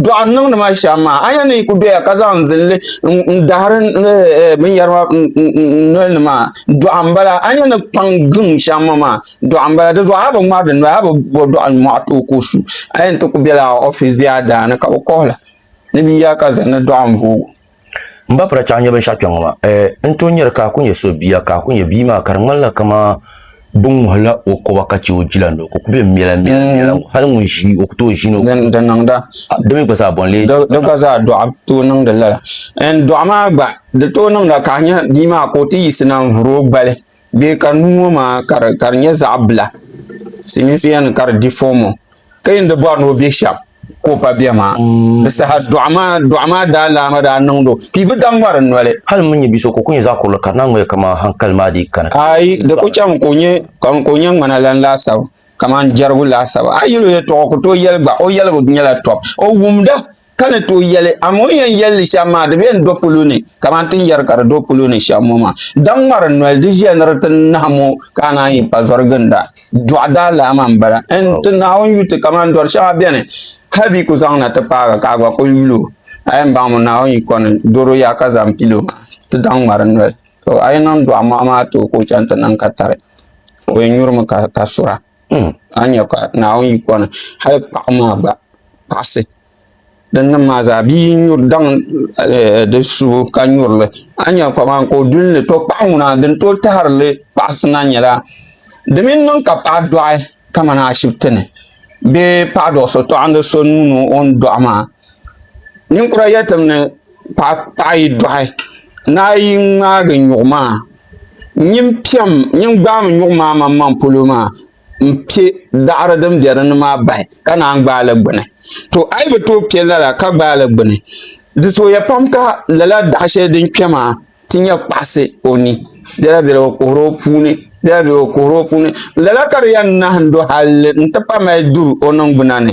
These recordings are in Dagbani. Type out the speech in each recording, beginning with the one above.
dɔɣi n niŋdi ma shɛm maa a yɛn ni yi ku doya ka zaŋ zinli n dahiri eh, eh, binyɛri maa n noli ni maa dɔɣi n bala a yɛn ni kpaŋ giŋ shɛm ŋɔ maa dɔɣi n bala di zuɣu a bi ŋmari di noli a bi bo dɔɣi mɔɣu tooi ka o su a yɛn ti ku bela ofiis bee a daani ka bi kɔhila ni bi ya ka zani dɔɣi n voogi n ba pira chaŋ nyɛ binshaɣu kpɛŋɔ maa n tooi nyɛri ka a ku nyɛ so bia ka a ku nyɛ bia maa ka di ŋmanila kamani bi ŋuhila o koba ka chɛ o jila ni o ku be miɛla miɛla mm. hali ŋun ʒi o ku tooi ʒi ni di niŋda di mi gba zaa bɔnli di gba zaa dɔɣa tooi niŋdi lala n dɔɣa maa gba di tooi niŋda ka a nyɛ bia maa ka o ti yiɣisi na n vuri o gbali Bɛ ka nuu ŋɔ maa ka di nyɛ zaɣ bila silmiinsi yɛli mi ka di di fom ŋɔ ka yi ni di bori ni o bɛ shɛm ka o pa bɛ maa di saha doɣu maa daalaama daa niŋdo ka yi bi da ŋmari n noli hali n mi nyɛ bia so ka o ku nyɛ zaɣ kurili ka di naa ŋmaligi kamani hankali maa dii kani aai di ku chɛmi ka o nyɛ ŋmana lan laasabu kamani jɛrigu laasabu a yi yuli o yɛltɔɣa o ku tooi yɛli gba o yɛligu nyɛla tɔbu o wumda Ka ni tooi yɛli, Amaa o ni yɛn yɛli li shɛm maa, di bi yɛn do polo ni, kamani ti ni yɛri ka di do polo ni shɛm ŋɔ maa. Daŋ ŋmari noli, di ʒiya ni di ti nahi mo ka a naan yi pa zɔri ginda. Dɔɣi daa laa maa m-bala. N ti Naawuni yu ti kamani dɔri shɛŋa beni, hal bɛ yi ku zaŋ na ti paagi ka a gba kul yul o. A yɛn baŋ mi Naawuni yi kɔni doro ya ka zaŋ pil o maa, ti daŋ ŋmari noli. To, a yi niŋ dɔɣi mɔɣu maa ti o ka o chaŋ ti niŋ ka tari, o yɛn nyuri mi ka sura. Hmm, a nya ka Naawuni yi kɔni, hali paɣa maa gba paɣisi. Dinnim maa zaa bia yi nyuri daŋ eh, di subu ka nyurili, a nya kaman ka o duli ni to paɣa ŋuna din tooi tahirili paɣisi na nyɛla di mini niŋ ka paɣa dɔɣi kamani ashibiti ni bee paɣa dɔɣi so tɔɣindi so nuu ni o ni dɔɣi maa. Ninkura yɛlitim ni. paɣa paɣa yi dɔɣi ni a yi ŋmaagi nyuɣu maa nyin piɛm nyin gbaai mi nyuɣu maa maŋmaŋ polo maa n piɛ daɣiri din be dini maa bahi ka naan gbaai li gbini to a yi bi tooi piɛ lala ka gbaai li gbini di zooya pam ka lala daɣa sheli din kpɛ maa ti nya kpaɣasi o ni bela bela o kuhira o puuni bela bela o kuhira o puuni lala ka di yen nahindɔɣi halli n ti pahi mali duri o ningbina ni.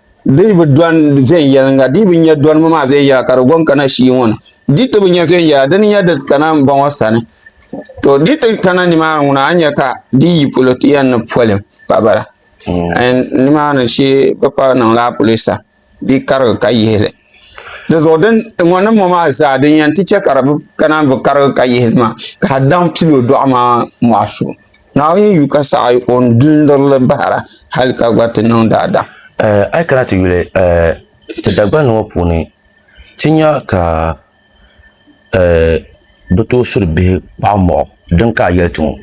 Di bi dɔni viɛnyɛliŋga, di bi nya dɔnimi maa viɛnyɛliŋga ka di gɔŋ kana shii ŋɔ ni. Di ti bi nya viɛnyɛliŋga, di ni nya di kana m-bɔŋɔ sani. To di ti kana nimaani ŋuna, a ni nya ka di yi polo ti yɛn ni poli pa bala. Nimaani shee bi pa niŋla a polo sa, di karigi ka yihi li. di zuɣu din ŋɔ ni mɔ maa zaa din yɛn ti chɛ ka di bi kana bi karigi ka yihi maa ka a daŋ pilo dɔɣu maa mɔɣu so naawuni yu ka saɣi o ni dundurili bahira hali ka gba ti niŋ daadam a yi kana ti yuli ti dagbani ŋɔ puuni ti nya ka bi tooi suri bihi kpaɣu mɔɣu din ka a yɛli ti ŋɔ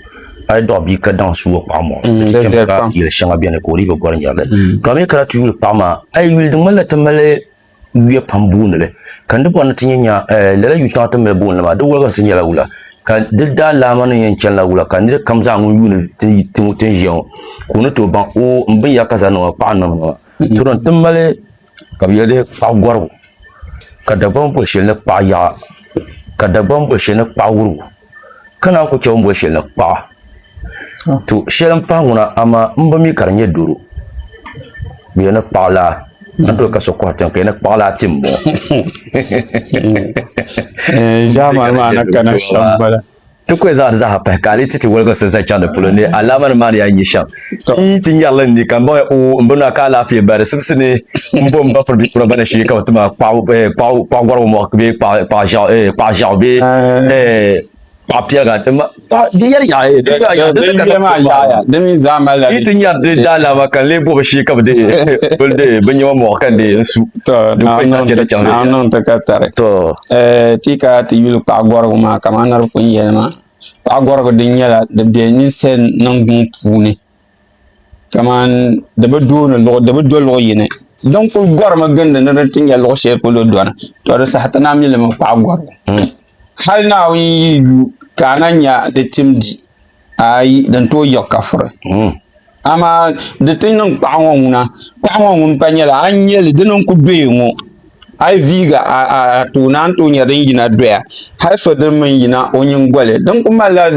a yi dɔɣi bia ka daŋ su o kpaɣu mɔɣu mm, ti chɛmi ka yɛli shɛŋa bɛni ka o dii bi gɔri nyɛrili mm. ka mi kana ti yuli paɣa maa a yi yuli di ŋmanila ti mali wiya pam booni li ka n di bɔri ni ti nyɛ nya eh, lala yu shɛŋa ti mali booni li maa di wɔliginsi nyɛla wula ka di daa laama ni yɛn chɛnila wula ka niri kam zaa ŋun yuuni ti ŋɔ ti ni ʒiya ŋɔ ka o ni tooi baŋ o n binyɛra ka zaa niŋɔ paɣa n niŋ ŋɔ Duri n ti mali ka bi yɛli kpaɣu gɔrigu ka Dagbaŋ boli shɛli ni kpaɣu yaɣa ka Dagbaŋ boli shɛli ni kpaɣu wurugu ka naan ku chɛ bin boli shɛli ni kpaɣu to shɛli n pahi ŋuna amaa n bi mi ka di nyɛ doro bi yɛli ni kpaɣu laa n toli ka so kɔhi tiŋ ka yɛli ni kpaɣu laa ti n bɔŋɔ. Ʒaamani maa ni kana shɛm bala. Ti kuli zaŋ di zaaha pahi ka a ni ti ti woligi sinzan chaŋ di polo ni alaamanim maa ni yaa nyi shɛm. Ti yi ti nyarili n-ni ka m-bɔŋɛ o m bini maa ka alaafee ba di sibisi ni m-bo m ba puri bɛ kura gba ni shee ka bɛ ti ma kpaɣigɔrigu mɔɣu bee kpaɣiʒiɛɣu bee kpaɣipiɛliga di mi zaa malila di ti nyari di daalaama ka n lee bɔbi shee ka bɛ deei binnɛma mɔɣu ka n deei n su. Naawuni niŋ ti ka tari. ti ka ti yuli paɣa gɔrigu maa kamani niriba kuli ni yɛli maa paɣa gɔrigu din nyɛla di bɛ ninsali niŋgbun puuni kamani di bi do luɣ yini din kuli gɔrimi gindi ni di ti nya luɣ shɛli polo dɔna to di saha ti naai mi limi paɣa gɔrigu hali naawuni yi yi lu ka a naai nya di tim di Ayi, din tooi yiɣi kafiri. Hmm. Amaa di ti niŋ kpaɣu ŋɔ ŋuna, kpaɣu ŋɔ ŋun pa nyɛla a ni nyɛli dini n-ku doya ŋɔ. A yi viigi a tooni a ni tooi nyɛ din yina doya hali so dini mi n-yina o nyingoli din ku malila